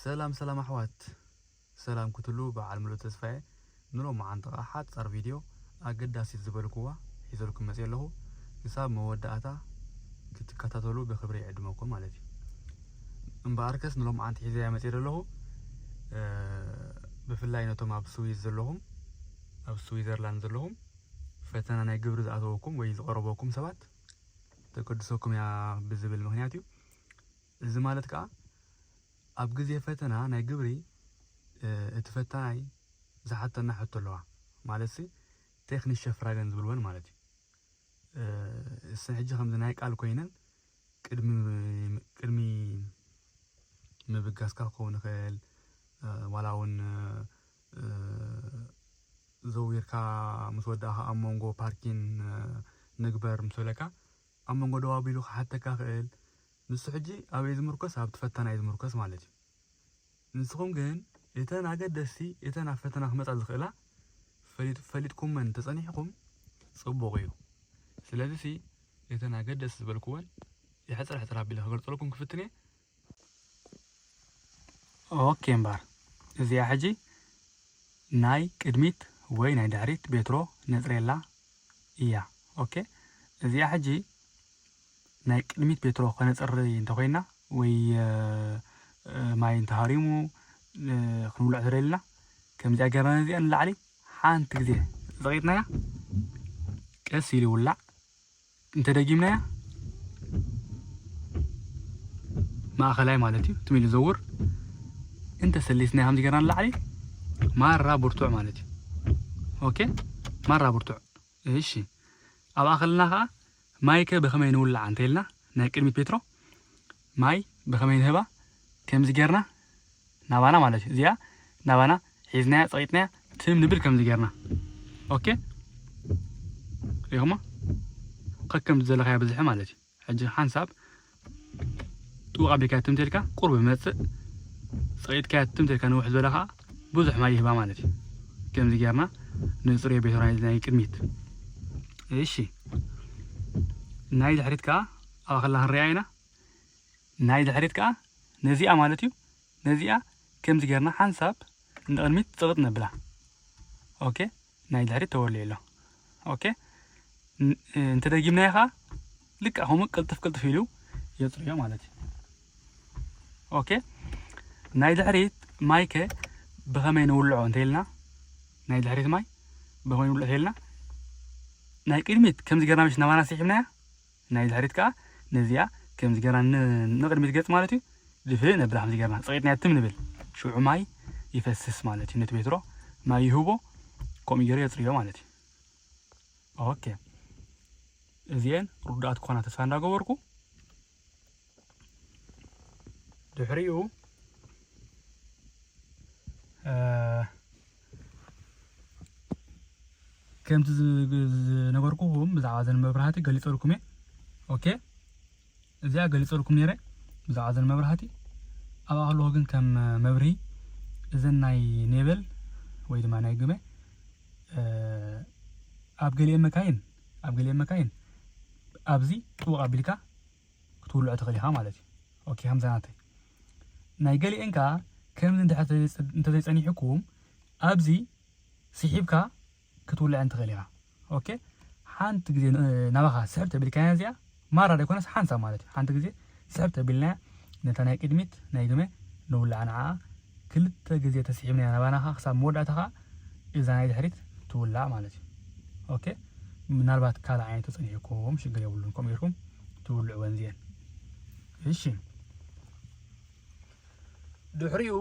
ሰላም ሰላም ኣሕዋት ሰላም ክትሉ በዓል ምሉእ ተስፋየ ንሎመዓንቲ ኸኣ ሓጻር ቪድዮ ኣገዳሲት ዝበልኩዋ ሒዘልኩም መጺ ኣለኹ ክሳብ መወዳእታ ክትከታተሉ ብክብሪ ይዕድመኩም ማለት እዩ እምበኣርከስ ንሎመዓንቲ ሒዘያ መጺ ዘለኹ ብፍላይ ነቶም ኣብ ስዊዝ ዘለኹም ኣብ ስዊዘርላንድ ዘለኹም ፈተና ናይ ግብሪ ዝኣተወኩም ወይ ዝቐረበኩም ሰባት ተገድሰኩም እያ ብዝብል ምኽንያት እዩ። እዚ ማለት ከኣ ኣብ ግዜ ፈተና ናይ ግብሪ እቲ ፈታናይ ዝሓተና ሕቶ ኣለዋ ማለትሲ ቴክኒሸ ፍራገን ዝብልወን ማለት እዩ። እሰን ሕጂ ከምዚ ናይ ቃል ኮይነን ቅድሚ ቅድሚ ምብጋስካ ክኸውን ይኽእል ዋላ እውን ዘዊርካ ምስ ወዳእካ ኣብ መንጎ ፓርኪን ንግበር ምስ በለካ ኣብ መንጎ ደው ኣቢሉ ክሓተካ ክእል ንሱ ሕጂ ኣበይ ዝምርኮስ ኣብቲ ፈተና እዩ ዝምርኮስ ማለት እዩ ንስኹም ግን እተን ኣገደስቲ እተን ኣብ ፈተና ክመፃ ዝኽእላ ፈሊጥኩመን ተፀኒሕኩም ፅቡቕ እዩ ስለዚ ሲ እተን ኣገደስቲ ዝበልኩወን የሕፅር ሕፅር ኣቢለ ክገልፀልኩም ክፍትን እየ ኦኬ እምባር እዚኣ ሕጂ ናይ ቅድሚት ወይ ናይ ድሕሪት ቤትሮ ነጽሬላ እያ ኦኬ እዚኣ ሕጂ ናይ ቅድሚት ቤትሮ ከነጽሪ እንተኮይና ወይ ማይ እንተሃሪሙ ክንውልዕ ተደልና ከምዚኣ ገርና ነዚኣ ንላዕሊ ሓንቲ ግዜ ዝቐይጥናያ ቀስ ኢሉ ይውላዕ እንተ ደጊምናያ ማእኸላይ ማለት እዩ ትም ኢሉ ዘውር እንተ ሰሊስናያ ከምዚ ገርና ንላዕሊ ማራ ብርቱዕ ማለት እዩ ኦኬ ማራ ብርቱዕ እሺ ኣብኣ ከለና ከዓ ማይ ከ ብኸመይ ንውልዓ እንተኢልና ናይ ቅድሚት ፔትሮ ማይ ብኸመይ ንህባ ከምዚ ገርና ናባና ማለት እዩ እዚኣ ናባና ሒዝናያ ጸቂጥናያ ትም ንብል ከምዚ ጌርና ኦኬ ሪኹሞ ከከም ዘለኻዮ ብዝሒ ማለት እዩ ሕጂ ሓንሳብ ጥቡቕ ኣቢልካያ ትም ተልካ ቁርብ ይመጽእ ጸቂጥካያ ትም ተልካ ንውሕ ዝበለ ከዓ ብዙሕ ማይ ይህባ ማለት እዩ ከምዚ ጌርና ንጽርዮ ቤት ናይ ቅድሚት እሺ ናይ ድሕሪት ከዓ ኣብ ኣኸላ ክንሪኣ ኢና ናይ ድሕሪት ከኣ ነዚኣ ማለት'ዩ ነዚኣ ከምዚ ጌርና ሓንሳብ ንቕድሚት ጽቕጥ ነብላ ኦኬ ናይ ድሕሪት ተወልዩ ኣሎ ኦኬ እንተ ደጊምናዮ ከኣ ልክዕ ከምኡ ቅልጥፍ ቅልጥፍ ኢሉ የጽርዮ ማለት እዩ ኦኬ ናይ ድሕሪት ማይ ከ ብኸመይ ንውልዖ እንተኢልና ናይ ድሕሪት ማይ ብኸመይ ንውልዖ እንተኢልና ናይ ቅድሚት ከምዚ ጌርና ምሽ ናባና ስሒብናያ ናይ ድሕሪት ከኣ ነዚኣ ከምዚ ገርና ን ንቕድሚት ገጽ ማለት እዩ ድፍእ ነብላ ከምዚ ገርና ጸቒጥናያ ትም ንብል ሽዑ ማይ ይፈስስ ማለት እዩ ነቲ ቤትሮ ማይ ይህቦ ከምኡ ገሩ የጽርዮ ማለት እዩ ኦኬ እዚኤን ርዱኣት ክኾና ተስፋ እንዳገበርኩ። ድሕሪኡ ከምቲ ዝነበርኩኹም ብዛዕባ ዘን መብራህቲ ገሊፀልኩም እየ ኦኬ እዚኣ ገሊፀልኩም ነይረ ብዛዕባ ዘን መብራህቲ ኣብኣ ከለኹ ግን ከም መብርሂ እዘን ናይ ኔበል ወይ ድማ ናይ ግመ ኣብ ገሊኤን መካይን ኣብ ገሊኤን መካይን ኣብዚ ጥቡቕ ኣቢልካ ክትውልዖ ትኽእል ኢኻ ማለት እዩ ኦኬ ከምዛ ናተይ ናይ ገሊኤን ከኣ ከምዚ እንድሕር እንተዘይጸኒሑኩም ኣብዚ ስሒብካ ክትውልዐን ትኽእል ኢኻ ኦኬ ሓንቲ ግዜ ናባኻ ስሕብ ተቢልካያ እዚኣ ማራ ዘይኮነስ ሓንሳብ ማለት እዩ ሓንቲ ግዜ ስሕብ ተቢልናያ ነታ ናይ ቅድሚት ናይ ግመ ንውልዓ ንዓኣ ክልተ ግዜ ተሲዒብናያ ናባና ከኣ ክሳብ መወዳእታ ከኣ እዛ ናይ ድሕሪት ትውላዕ ማለት እዩ ኦኬ ምናልባት ካልእ ዓይነት ተጸኒሑኩም ሽግር የብሉን ከምኡ ጌርኩም ትውልዕወን እዚኤን እሺ ድሕሪኡ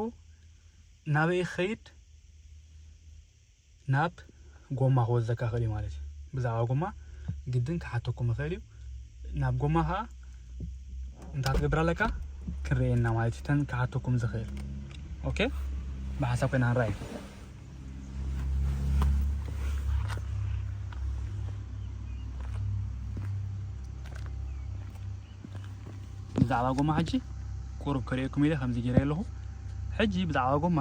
ናበይ ክኸይድ ናብ ጎማ ክወስደካ ይኽእል እዩ ማለት እዩ ብዛዕባ ጎማ ግድን ክሓተኩም ይኽእል እዩ ናብ ጎማ ከዓ እንታይ ትገብር ኣለካ ክንርእየና ማለት እዩ ተን ክሓተኩም ዝኽእል ኦኬ ብሓሳብ ኮይና ንረኣዩ ብዛዕባ ጎማ ሕጂ ቁሩብ ክርእየኩም ኢለ ከምዚ ገይረ ኣለኹ ሕጂ ብዛዕባ ጎማ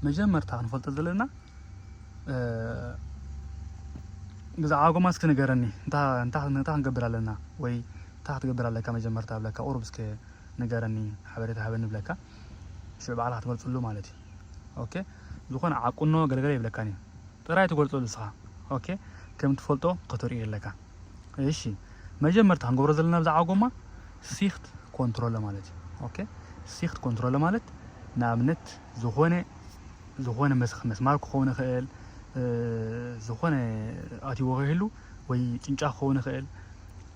መጀመርታ ክንፈልጦ ዘለና ብዛዕባ ጎማ እስኪ ንገረኒ እንታይ ክንገብር ኣለና ወይ እንታይ ክትገብር ኣለካ መጀመርታ ብለካ ቁሩብ እስኪ ንገረኒ ሓበሬታ ሃበኒ ብለካ ሽዑ ባዕልካ ክትገልፅሉ ማለት እዩ ኦኬ ዝኾነ ዓቁኖ ገለገለ ይብለካን እዩ ጥራይ ትገልፀሉ እስኻ ኦኬ ከም ትፈልጦ ክትርእዩ ኣለካ እሺ መጀመርታ ክንገብሮ ዘለና ብዛዕባ ጎማ ሲክት ኮንትሮለ ማለት እዩ ኦኬ ሲክት ኮንትሮለ ማለት ንኣብነት ዝኾነ ዝኾነ መስኽ መስማር ክኸውን ይኽእል፣ ዝኾነ ኣትይዎ ከይህሉ ወይ ጭንጫ ክኸውን ይኽእል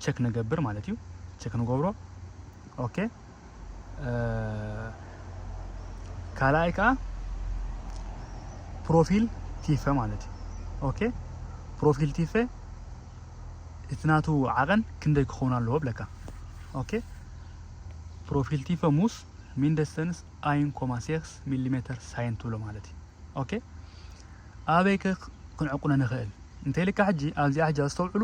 ቸክ ንገብር ማለት እዩ። ቸክ ንገብሮ ኦኬ። ካልኣይ ከዓ ፕሮፊል ቲፈ ማለት እዩ። ኦኬ ፕሮፊል ቲፈ እቲ ናቱ ዓቐን ክንደይ ክኸውን ኣለዎ ብለካ። ኦኬ ፕሮፊል ቲፈ ሙስ ሚንደስተንስ ኣይን ኮማ ሴክስ ሚሊሜተር ሳይን ትብሎ ማለት እዩ ኦኬ ኣበይ ከ ክንዕቁነ ንክእል እንተ ኢልካ ሕጂ ኣብዚኣ ሕጂ ኣስተውዕሉ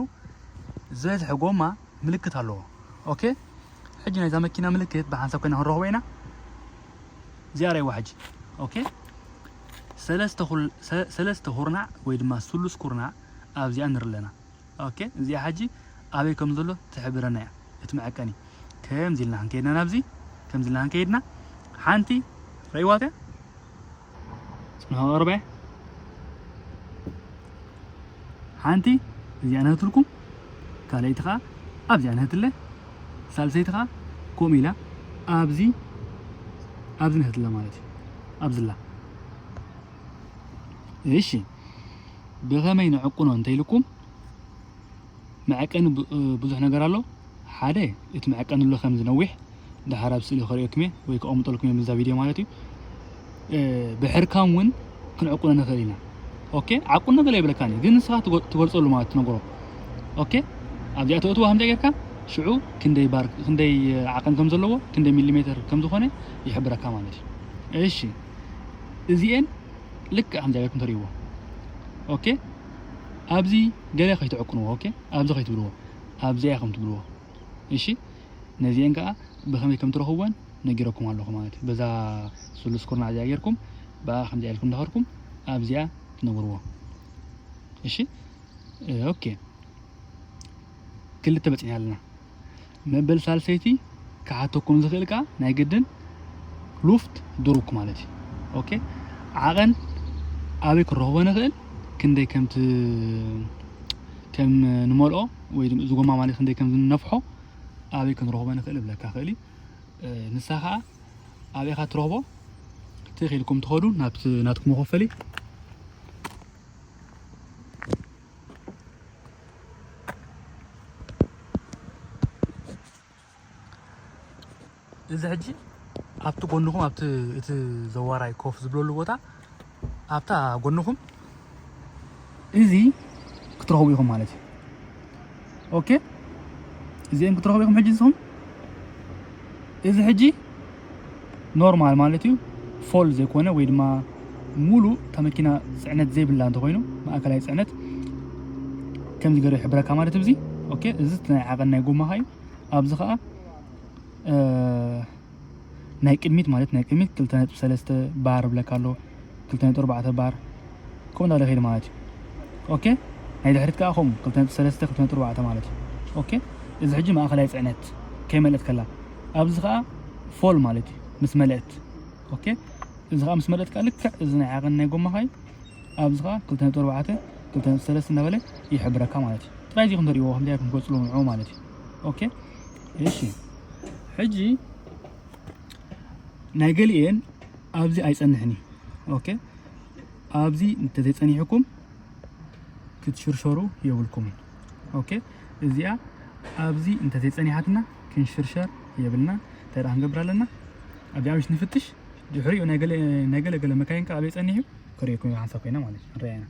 ዝበዝሐ ጎማ ምልክት ኣለዎ ኦኬ ሕጂ ናይዛ መኪና ምልክት ብሓንሳብ ኮይና ክንረኽቦ ኢና እዚኣ ረይዋ ሕጂ ኦኬ ሰለስተ ኩርናዕ ወይ ድማ ስሉስ ኩርናዕ ኣብዚኣ ንርኢ ኣለና ኦኬ እዚኣ ሕጂ ኣበይ ከም ዘሎ ትሕብረና እያ እቲ መዐቀኒ ከምዚ ኢልና ክንከይድና ናብዚ ከምዚ ኢልና ክንከይድና ሓንቲ ረእይዋ እያ ጽንሖ ቅርበ ሓንቲ እዚኣ ነህትልኩም ካልኣይቲ ከዓ ኣብዚኣ ነህትለ ሳልሰይቲ ከዓ ከምኡ ኢላ ኣብዚ ኣብዚ ነህትለ ማለት እዩ ኣብዝላ እሺ ብኸመይ ንዕቁኖ እንተኢልኩም መዐቀኒ ብዙሕ ነገር ኣሎ ሓደ እቲ መዐቀኒ ኣሎ ከም ዝነዊሕ ድሓር ኣብ ስእሊ ከርእየኩም እየ ወይ ከቐምጠልኩም እየ እዛ ቪድዮ ማለት እዩ ብሕርካም እውን ክንዕቁኖ ንኽእል ኢና ኦኬ ዓቁኖ ገለ ይብለካን እዩ ግን ንስኻ ትገልፀሉ ማለት ትነግሮ ኦኬ ኣብዚኣ ተእትዎ ከምዚ ጌርካ ሽዑ ክንደይ ባር ክንደይ ዓቐን ከም ዘለዎ ክንደይ ሚሊሜትር ከም ዝኾነ ይሕብረካ ማለት እዩ እሺ እዚኤን ልክዕ ከምዚ ገርኩም ተርእይዎ ኦኬ ኣብዚ ገለ ከይትዕቅንዎ ኦኬ ኣብዚ ከይትብልዎ ኣብዚኣ ከም ትብልዎ እሺ ነዚአን ከዓ ብከመይ ከም ትረኽብወን ነጊረኩም ኣለኹ ማለት እዩ በዛ ስሉስ ኩርናዕ እዚኣ ጌርኩም ብኣ ከምዚኣ ኢልኩም እንዳኸድኩም ኣብዚኣ ትነብርዎ እሺ ኦኬ ክልተ በፂሕና ኣለና መበል ሳልሰይቲ ክሓተኩም ዝኽእል ከኣ ናይ ግድን ሉፍት ድሩክ ማለት እዩ ኦኬ ዓቐን ኣበይ ክንረኽቦ ንኽእል ክንደይ ከምቲ ከም ንመልኦ ወይ ድማ እዚ ጎማ ማለት ክንደይ ከም ዝነፍሖ ኣበይ ክንረኽቦ ንኽእል እብለካ ክእል ንሳ ከዓ ኣበይ ኢኻ ትረኽቦ ትኽ ኢልኩም ትኸዱ ናብቲ ናትኩም መኸፈሊ እዚ ሕጂ ኣብቲ ጎንኹም ኣብቲ እቲ ዘዋራይ ኮፍ ዝብለሉ ቦታ ኣብታ ጎንኹም እዚ ክትረኽቡ ኢኹም ማለት እዩ ኦኬ እዚኦም ክትረኽቡ ኢኹም ሕጂ ንስኹም እዚ ሕጂ ኖርማል ማለት እዩ ፎል ዘይኮነ ወይ ድማ ሙሉ እታ መኪና ፅዕነት ዘይብላ እንተኮይኑ ማእከላይ ፅዕነት ከምዚ ገይሩ ይሕብረካ ማለት እዩ እዚ ኦኬ እዚ ናይ ዓቐን ናይ ጎማኻ እዩ ኣብዚ ከዓ ናይ ቅድሚት ማለት ናይ ቅድሚት ክልተ ነጥቢ ሰለስተ ባር ብለካ ኣሎ ክልተ ነጥቢ ኣርባዕተ ባር ከምኡ እንዳለ ከይድ ማለት እዩ ኦኬ ናይ ድሕሪት ከዓ ከምኡ ክልተ ነጥቢ ሰለስተ ክልተ ነጥቢ ኣርባዕተ ማለት እዩ ኦኬ እዚ ሕጂ ማእኸላይ ፅዕነት ከይመልእት ከላ ኣብዚ ከዓ ፎል ማለት እዩ ምስ መለእት ኦኬ እዚ ከዓ ምስ መለእት ከዓ ልክዕ እዚ ናይ ዓቐን ናይ ጎማኻ እዩ ኣብዚ ከዓ ክልተ ነጥቢ ኣርባዕተ ክልተ ነጥቢ ሰለስተ እንዳበለ ይሕብረካ ማለት እዩ ጥራይ እዚ ክንተርእይዎ ከምዚ ኣይኩም ትገፅሉ ንዑ ማለት እዩ ኦኬ እሺ ሕጂ ናይ ገሊኤን ኣብዚ ኣይጸንሕን እዩ ኦኬ ኣብዚ እንተዘይጸኒሕኩም ክትሽርሸሩ የብልኩምን ኦኬ እዚኣ ኣብዚ እንተዘይጸኒሓትና ክንሽርሸር የብልና እንታይ ደኣ ክንገብር ኣለና ኣብዚኣ ምሽ ንፍትሽ ድሕሪኡ ናይ ገለ ገለ መካይን ከ ኣበይ ጸኒሑ ከርእየኩም ሓንሳብ ኮይና ማለት እዩ ንርኣያ ኢና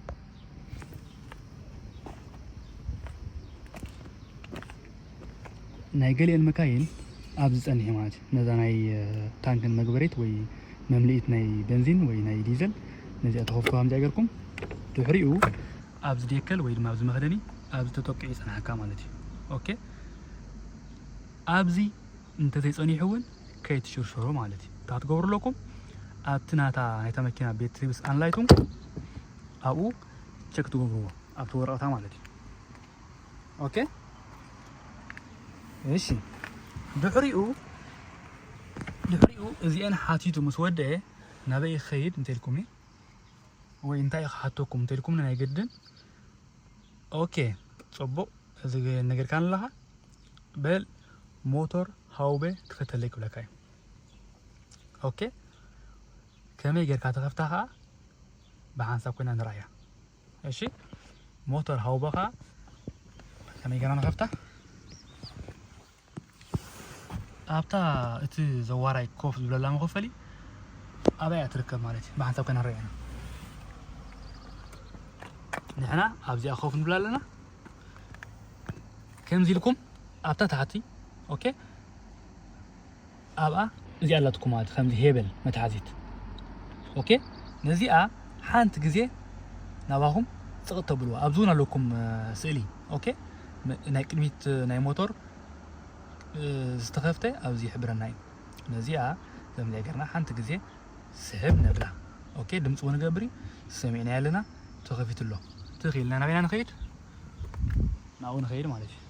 ናይ ገሊኤን መካይን ኣብዚ ጸኒሐ ማለት እዩ ነዛ ናይ ታንክን መግበሬት ወይ መምልኢት ናይ በንዚን ወይ ናይ ዲዘል ነዚኣ ተኸፍቶ ከምዚኣ ገርኩም ድሕሪኡ ኣብዚ ዴከል ወይ ድማ ኣብዚ መኽደኒ ኣብዚ ተጠቂዑ ይጸናሓካ ማለት እዩ ኦኬ ኣብዚ እንተዘይጸኒሑ እውን ከይትሽርሸሩ ማለት እዩ እንታይ ክትገብሩ ኣለኩም ኣብቲ ናታ ናይታ መኪና ቤት ሪብስ ኣንላይቱም ኣብኡ ቸክ ትገብርዎ ኣብቲ ወረቕታ ማለት እዩ ኦኬ እሺ ድሕሪኡ ድሕሪኡ እዚኤን ሓቲቱ ምስ ወደአ ናበይ ክኸይድ እንተልኩም እዩ ወይ እንታይ ክሓተኩም እንተልኩም ናይ ግድን ኦኬ ፅቡቕ እዚ ነገርካ ኣለኻ በል ሞቶር ሃውበ ክፈተለይ ክብለካ እዩ ኦኬ ከመይ ጌርካ ትኸፍታ ከኣ ብሓንሳብ ኮይና ንርኣያ እሺ ሞተር ሃውበኻ ከመይ ጌርና ንኸፍታ ኣብታ እቲ ዘዋራይ ኮፍ ዝብለላ መኸፈሊ ኣበይ እያ ትርከብ ማለት እዩ ብሓንሳብ ኮይና ንርኣያ ንሕና ኣብዚኣ ኮፍ ንብላ ኣለና ከምዚ ኢልኩም ኣብታ ታሕቲ ኦኬ ኣብኣ እዚኣ ኣላትኩም ማለት ከምዚ ሄበል መትሓዚት ኦኬ ነዚኣ ሓንቲ ግዜ ናባኹም ጽቕጥ ተብልዋ ኣብዚ እውን ኣለኩም ስእሊ ኦኬ ናይ ቅድሚት ናይ ሞቶር ዝተኸፍተ ኣብዚ ይሕብረና እዩ ነዚኣ ከምዚ ገርና ሓንቲ ግዜ ስሕብ ነብላ ኦኬ ድምፂ እውን ገብሪ ሰሚዕናዮ ኣለና ተኸፊቱ ኣሎ ትኽ ኢልና ናበይና ንኸይድ ናብኡ ንኸይድ ማለት እዩ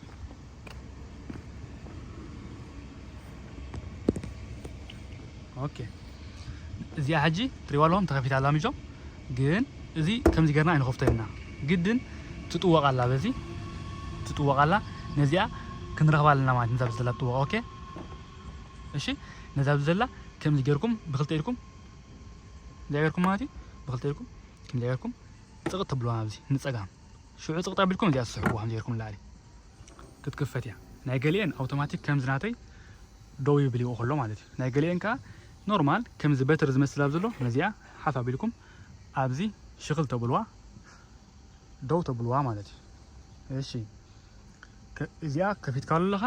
ኦኬ እዚኣ ሕጂ ትሪዋ ኣለኹም ተኸፊታ ኣላ ምጆ ግን እዚ ከምዚ ገርና ኣይንኸፍቶ ኢና ግድን ትጥወቕ ኣላ በዚ ትጥወቕ ኣላ ነዚኣ ክንረኽባ ኣለና ማለት ነዛ ብዘላ ትጥወቕ ኦኬ እሺ ነዛ ብዘላ ከምዚ ገርኩም ብክልተ ኢድኩም እዚኣ ገርኩም ማለት እዩ ብክልተ ኢድኩም ከምዚ ገርኩም ጥቕጥ ትብልዋ ናብዚ ንፀጋም ሽዑ ጽቕጥ ኣቢልኩም እዚኣ ትስሕቡዋ ከም ጌርኩም ንላዕሊ ክትክፈት እያ ናይ ገሊኤን ኣውቶማቲክ ከምዚ ናተይ ደው ይብልዎ ከሎ ማለት እዩ ናይ ገሊኤን ከዓ ኖርማል ከምዚ በትሪ ዝመስል ኣብ ዘሎ ነዚኣ ሓፍ ኣቢልኩም ኣብዚ ሽኽል ተብልዋ ደው ተብልዋ ማለት እዩ እሺ እዚኣ ከፊትካሉ ኣለኻ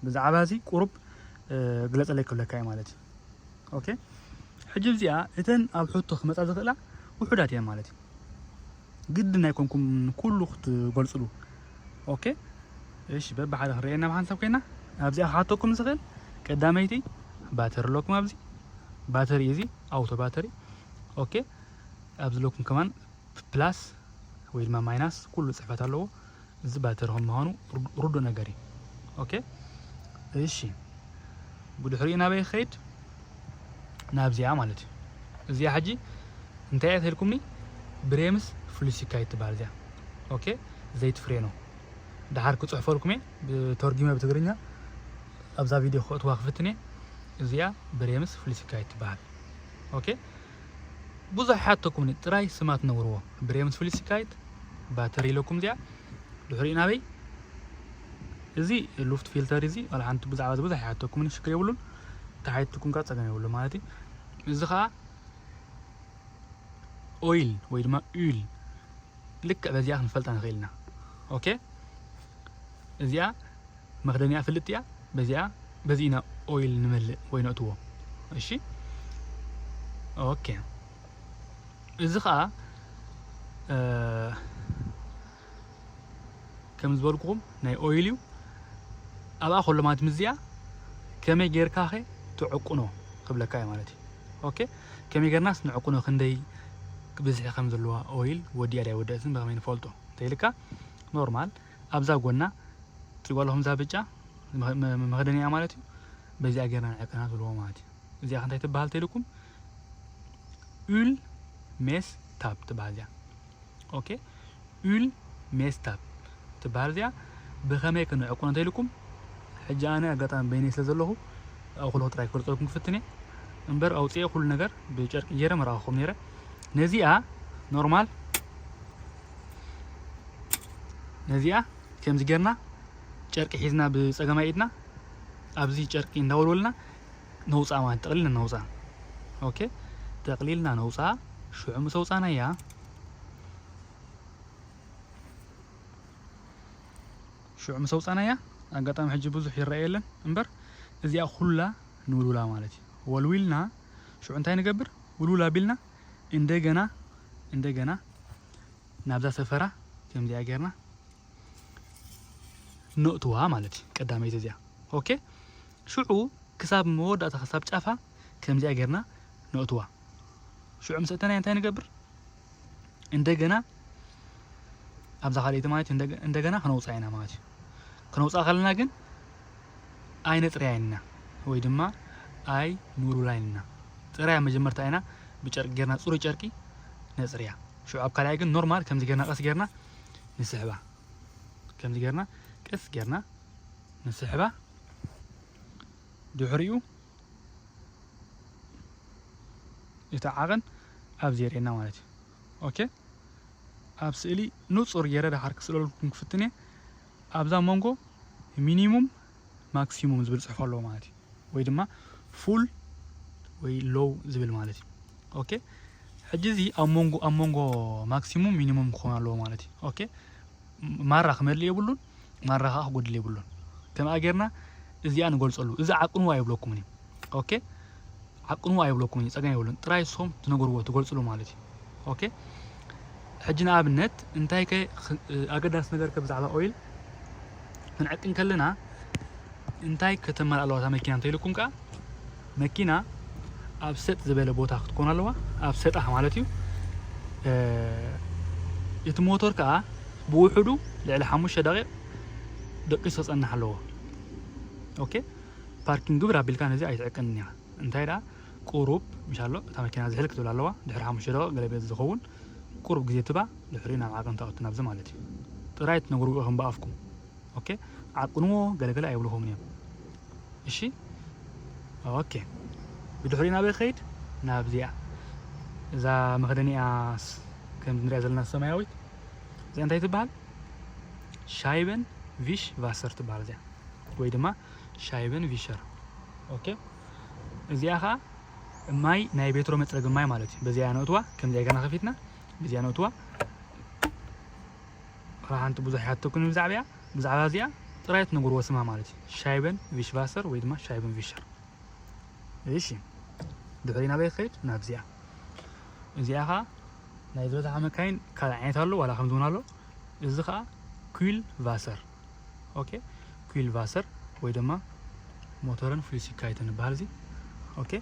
ብዛዕባ እዚ ቁሩብ ግለጸለይ ክብለካ እየ ማለት እዩ ኦኬ ሕጂ እዚኣ እተን ኣብ ሕቶ ክመጻ ዝኽእላ ውሑዳት እየን ማለት እዩ ግድን ኣይኮንኩም ኩሉ ክትገልጽሉ ኦኬ እሺ በብሓደ ክንርእየና ብሓንሳብ ኮይና ኣብዚኣ ክሓተኩም ዝኽእል ቀዳመይቲ ባተሪ ኣለኩም ኣብዚ ባተሪ እዚ ኣውቶ ባተሪ ኦኬ ኣብዚ ለኩም ከማን ፕላስ ወይ ድማ ማይናስ ኩሉ ፅሕፈት ኣለዎ እዚ ባትሪ ከም ምዃኑ ርዱእ ነገር እዩ ኦኬ እሺ ብድሕሪኡ ናበይ ክኸይድ ናብዚኣ ማለት እዩ እዚኣ ሕጂ እንታይ እያ ተልኩምኒ ብሬምስ ፍሉሲካይት ትበሃል እዚኣ ኦኬ ዘይቲ ፍሬኖ ድሓር ክፅሕፈልኩም እየ ብተርጊመ ብትግርኛ ኣብዛ ቪድዮ ክእትዋ ክፍትን እየ እዚኣ ብሬምስ ፍሉሲካይት ትበሃል ኦኬ ብዙሕ ሓተኩምኒ ጥራይ ስማ ትነግርዎ ብሬምስ ፍሉሲካይት ባተሪ ኢለኩም እዚኣ ድሕሪኡ ናበይ እዚ ሉፍት ፊልተር እዚ ዋላ ሓንቲ ብዛዕባ እዚ ብዙሕ ኣይሓተኩምን ሽግር የብሉን ተሓይትኩም ከዓ ፀገም የብሉ ማለት እዩ እዚ ከዓ ኦይል ወይ ድማ ኡል ልክዕ በዚኣ ክንፈልጣ ንኽእል ኢና ኦኬ እዚኣ መክደኒኣ ፍልጥ እያ በዚኣ በዚ ኢና ኦይል ንመልእ ወይ ነእትዎ እሺ ኦኬ እዚ ከኣ ከም ዝበልኩኹም ናይ ኦይል እዩ ኣብኣ ከሎ ማለት ምዚኣ ከመይ ጌርካ ኸ ትዕቁኖ ክብለካ እዩ ማለት እዩ ኦኬ ከመይ ጌርናስ ንዕቁኖ ክንደይ ብዝሒ ከም ዘለዋ ኦይል ወዲኣ ዳይ ወደእትን ብኸመይ ንፈልጦ እንተይልካ ኖርማል ኣብዛ ጎና ትሪጓለኹም እዛ ብጫ መኽደኒያ ማለት እዩ በዚኣ ጌርና ንዕቅና ትብልዎ ማለት እዩ እዚኣ ከንታይ ትበሃል ተልኩም ኡል ሜስ ታብ ትበሃል እዚኣ ኦኬ ኡል ሜስ ታብ ትበሃል እዚኣ ብኸመይ ክንዕቁን እንተኢልኩም ሕጂ ኣነ ኣጋጣሚ በይነይ ስለ ዘለኹ ኣኹልኹ ጥራይ ክገልጸልኩም ክፍትን እየ እምበር ኣውፅኤ ኩሉ ነገር ብጨርቂ ገይረ መርኣኹም ነይረ ነዚኣ ኖርማል ነዚኣ ከምዚ ጌርና ጨርቂ ሒዝና ብፀገማይ ኢድና ኣብዚ ጨርቂ እንዳወልወልና ነውጽኣ ማለት ጠቕሊልና ነውጽኣ ኦኬ ጠቕሊልና ነውጽኣ ሽዑ ምስ ኣውጻእናያ ሽዑ ምስ ኣውጻእናያ ኣጋጣሚ ሕጂ ብዙሕ ይረአ የለን እምበር እዚኣ ኩላ ንውልውላ ማለት እዩ ወልዊልና ሽዑ እንታይ ንገብር ውልውላ ቢልና እንደገና እንደገና ናብዛ ሰፈራ ከምዚኣ ጌርና ነእትዋ ማለት እዩ ቀዳመይቲ እዚኣ ኦኬ ሽዑ ክሳብ መወዳእታ ክሳብ ጫፋ ከምዚኣ ጌርና ነእትዋ ሽዑ ምስ እተናያ እንታይ ንገብር እንደገና ኣብዛ ካልኣይቲ ማለት እዩ እንደገ- እንደገና ክነውፅኣ ኢና ማለት እዩ ክነውፅኣ ከለና ግን ኣይነፅርያን ኢና ወይ ድማ ኣይ ንውልውላን ኢና ፅራያ መጀመርታ ኢና ብጨርቂ ጌርና ፅሩይ ጨርቂ ነፅርያ ሽዑ ኣብ ካልኣይ ግን ኖርማል ከምዚ ጌርና ቀስ ጌርና ንስሕባ ከምዚ ጌርና ቀስ ጌርና ንስሕባ ድሕሪኡ እቲ ዓቐን ኣብዚ የርእየና ማለት እዩ ኦኬ ኣብ ስእሊ ንጹር ገይረ ዳሓር ክስእለልኩም ክፍትን እየ ኣብዛ መንጎ ሚኒሙም ማክሲሙም ዝብል ፅሑፍ ኣለዎ ማለት እዩ ወይ ድማ ፉል ወይ ሎው ዝብል ማለት እዩ ኦኬ ሕጂ እዚ ኣብ መንጎ ኣብ መንጎ ማክሲሙም ሚኒሙም ክኾን ኣለዎ ማለት እዩ ኦኬ ማራ ክመልእ የብሉን ማራ ከዓ ክጎድል የብሉን ከምኣ ጌርና እዚኣ ንገልፀሉ እዚ ዓቅኑ ኣይብለኩምን እዩ ኦኬ ዓቅኑ ኣይብለኩምን እዩ ጸገም የብሉን ጥራይ ንስኹም ትነግርዎ ትገልጽሉ ማለት እዩ ኦኬ ሕጂ ንኣብነት እንታይ ከ ኣገዳሲ ነገር ከ ብዛዕባ ኦይል ክንዕቂ እንከለና እንታይ ከተመልእ ኣለዋ እታ መኪና እንተኢልኩም ከኣ መኪና ኣብ ሰጥ ዝበለ ቦታ ክትኮን ኣለዋ ኣብ ሰጣሕ ማለት እዩ እቲ ሞተር ከዓ ብውሕዱ ልዕሊ ሓሙሽተ ደቂቕ ደቂሱ ክፀንሕ ኣለዎ ኦኬ ፓርኪን ግብር ኣቢልካ ነዚ ኣይትዕቅንን እያ እንታይ ደኣ ቁሩብ ምሽ ኣሎ እታ መኪና ዝሕል ክትብል ኣለዋ ድሕሪ ሓሙሽተ ደቂቅ ገለ ቤት ዝከውን ቁሩብ ግዜ ትባ ድሕሪኡ ናብ ዓቅን ትኣቱ ናብዚ ማለት እዩ ጥራይ ትነግርዎ ኢኩም ብኣፍኩም ኦኬ ዓቅንዎ ገለ ገለ ኣይብልኩምን እዮም እሺ ኦኬ ብድሕሪኡ ናበይ ክከይድ ናብዚኣ እዛ መክደኒኣ ከምዚ ንሪኣ ዘለና ሰማያዊት እዚኣ እንታይ ትበሃል ሻይበን ቪሽ ቫሰር ትበሃል እዚኣ ወይ ድማ ሻይበን ቪሸር ኦኬ እዚኣ ከዓ ማይ ናይ ቤትሮ መፅረጊ ማይ ማለት እዩ በዚኣ ነእትዋ ከምዚኣ ገና ከፊትና በዚኣ ነእትዋ ሓንቲ ብዙሕ ይሓተኩን ብዛዕባ እያ ብዛዕባ እዚኣ ጥራይ ትነግርዎ ስማ ማለት እዩ ሻይበን ቪሽቫሰር ወይ ድማ ሻይበን ቪሸር እሺ ድሕሪ ናበይ ክኸይድ ናብዚኣ እዚኣ ከዓ ናይ ዝበዝሓ መካይን ካልእ ዓይነት ኣሎ ዋላ ከምዚ እውን ኣሎ እዚ ከዓ ኩል ቫሰር ኦኬ ኩል ቫሰር ወይ ድማ ሞተርን ፍሉሲካይት ንበሃል እዚ ኦኬ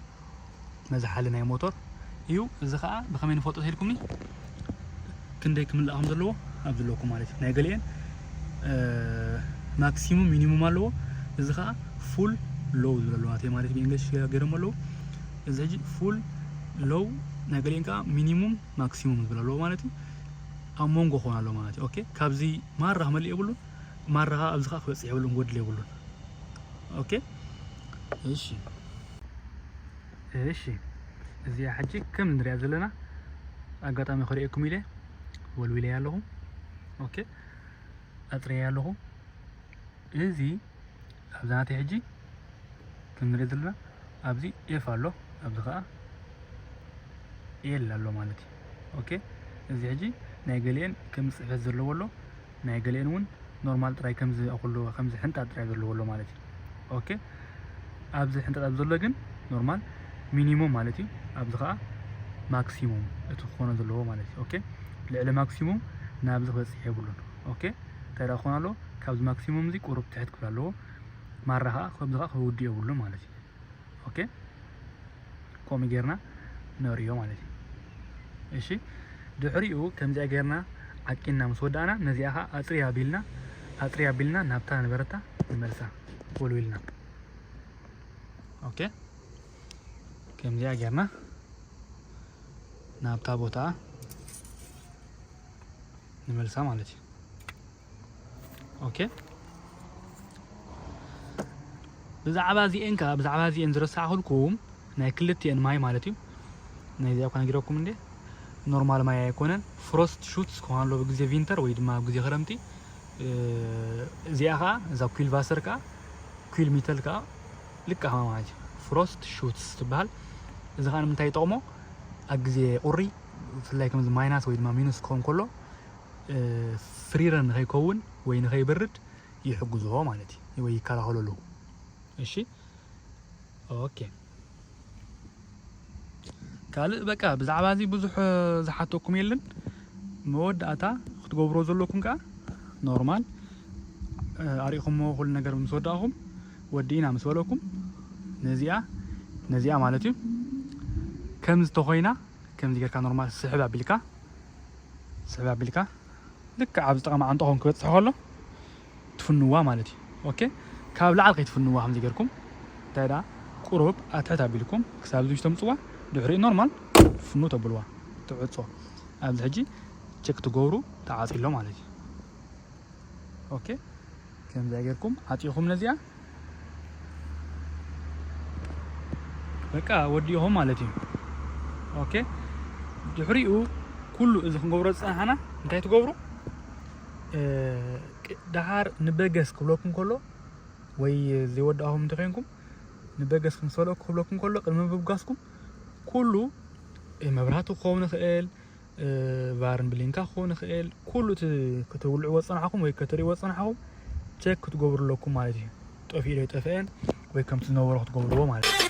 መዝሓሊ ናይ ሞተር እዩ እዚ ከዓ ብከመይ ንፈልጦ ተልኩምኒ ክንደይ ክምልእ ከም ዘለዎ ኣብዚ ኣለኩ ማለት እዩ ናይ ገሊአን ማክሲሙም ሚኒሙም ኣለዎ እዚ ከዓ ፉል ሎው ዝብለ ኣለዎ ናተይ ማለት ብእንግሊሽ ገይሮም ኣለዉ እዚ ሕጂ ፉል ሎው ናይ ገሊአን ከዓ ሚኒሙም ማክሲሙም ዝብለ ኣለዎ ማለት እዩ ኣብ ሞንጎ ክኾን ኣለዎ ማለት እዩ ኦኬ ካብዚ ማራ ክመልእ የብሉን ማራ ከኣ ኣብዚ ከኣ ክበጽሕ የብሉን ክጎድል የብሉን ኦኬ እሺ እሺ እዚኣ ሕጂ ከም ንሪኣ ዘለና ኣጋጣሚ ክርእየኩም ኢለ ወልዊለያ ኣለኹ ኦኬ ኣጽረያ ኣለኹ እዚ ኣብዚ ናተይ ሕጂ ከም ንሪኦ ዘለና ኣብዚ ኤፍ ኣሎ ኣብዚ ከዓ ኤል ኣሎ ማለት እዩ ኦኬ እዚ ሕጂ ናይ ገሊኤን ከም ፅሕፈት ዘለዎ ኣሎ ናይ ገሊኤን እውን ኖርማል ጥራይ ከምዚ ኣኩሎ ከምዚ ሕንጣጥ ጥራይ ዘለዎ ኣሎ ማለት እዩ ኦኬ ኣብዚ ሕንጣጥ ኣብ ዘሎ ግን ኖርማል ሚኒሙም ማለት እዩ ኣብዚ ከዓ ማክሲሙም እቲ ክኾነ ዘለዎ ማለት እዩ ኦኬ ልዕሊ ማክሲሙም ናብዚ ክበፅሕ የብሉን ኦኬ እንታይ ደኣ ክኾን ኣለዎ ካብዚ ማክሲሙም እዚ ቁሩብ ትሕት ክብል ኣለዎ ማራ ከኣ ከምዚ ከኣ ክውድእ የብሉን ማለት እዩ ኦኬ ከምኡ ጌርና ነርእዮ ማለት እዩ እሺ ድሕሪኡ ከምዚኣ ጌርና ዓቂንና ምስ ወዳእና ነዚኣ ከዓ ኣፅሪ ኣቢልና ኣፅሪ ኣቢልና ናብታ ነበረታ ንመልሳ ወልዊልና ኦኬ ከምዚኣ ጌርና ናብታ ቦታ ንመልሳ ማለት እዩ ኦኬ ብዛዕባ እዚኤን ከዓ ብዛዕባ እዚኤን ዝረሳዕኩልኩም ናይ ክልቲኤን ማይ ማለት እዩ ናይ እዚኣ እኳ ነጊረኩም እንዴ ኖርማል ማይ ኣይኮነን ፍሮስት ሹትስ ክኾን ኣሎ ብግዜ ቪንተር ወይ ድማ ኣብ ግዜ ክረምቲ እዚኣ ከዓ እዛ ኩል ቫሰር ከዓ ኩል ሚተል ከዓ ልካ ከማ ማለት እዩ ፍሮስት ሹትስ ትበሃል እዚ ከዓ ንምንታይ ይጠቕሞ ኣብ ግዜ ቁሪ ብፍላይ ከምዚ ማይናስ ወይ ድማ ሚኑስ ክኸውን ከሎ ፍሪረ ንኸይከውን ወይ ንኸይበርድ ይሕግዞ ማለት እዩ ወይ ይከላኸለሉ እሺ ኦኬ ካልእ በቃ ብዛዕባ እዚ ብዙሕ ዝሓተኩም የለን መወዳእታ ክትገብሮ ዘለኩም ከዓ ኖርማል ኣሪእኹሞ ኩሉ ነገር ምስ ወዳእኹም ወዲእና ምስ በለኩም ነዚኣ ነዚኣ ማለት እዩ ከም ዝተኮይና ከምዚ ጌርካ ኖርማል ስሕብ ኣቢልካ ስሕብ ኣቢልካ ልክዕ ኣብዚ ጥቃ መዓንጠኹም ክበጽሕ ከሎ ትፍንዋ ማለት እዩ ኦኬ ካብ ላዕሊ ከይትፍንዋ ከምዚ ጌርኩም እንታይ ደኣ ቁሩብ ኣትሕት ኣቢልኩም ክሳብ እዚ ተምጽዋ ድሕሪኡ ኖርማል ፍኑ ተብልዋ ትዕጾ ኣብዚ ሕጂ ቸክ ትገብሩ ተዓጽሎ ማለት እዩ ኦኬ ከምዛ ጌርኩም ዓጺኹም ነዚኣ በቃ ወዲኹም ማለት እዩ ኦኬ ድሕሪኡ ኩሉ እዚ ክንገብሮ ዝፀናሕና እንታይ ትገብሩ ደሓር ንበገስ ክብለኩም ከሎ ወይ ዘይወዳእኹም እንተኮይንኩም ንበገስ ክንሰሎ ክብለኩም ከሎ ቅድሚ ምብጋስኩም ኩሉ መብራህቲ ክኸውን ይኽእል ቫርን ብሊንካ ክኾን ይኽእል ኩሉ እቲ ክትውልዕዎ ዝጸናሕኩም ወይ ክትርእይዎ ዝጸናሕኩም ቸክ ክትገብሩ ኣለኩም ማለት እዩ ጠፊኡ ዶ ይጠፍአ ወይ ከምቲ ዝነበሮ ክትገብርዎ ማለት እዩ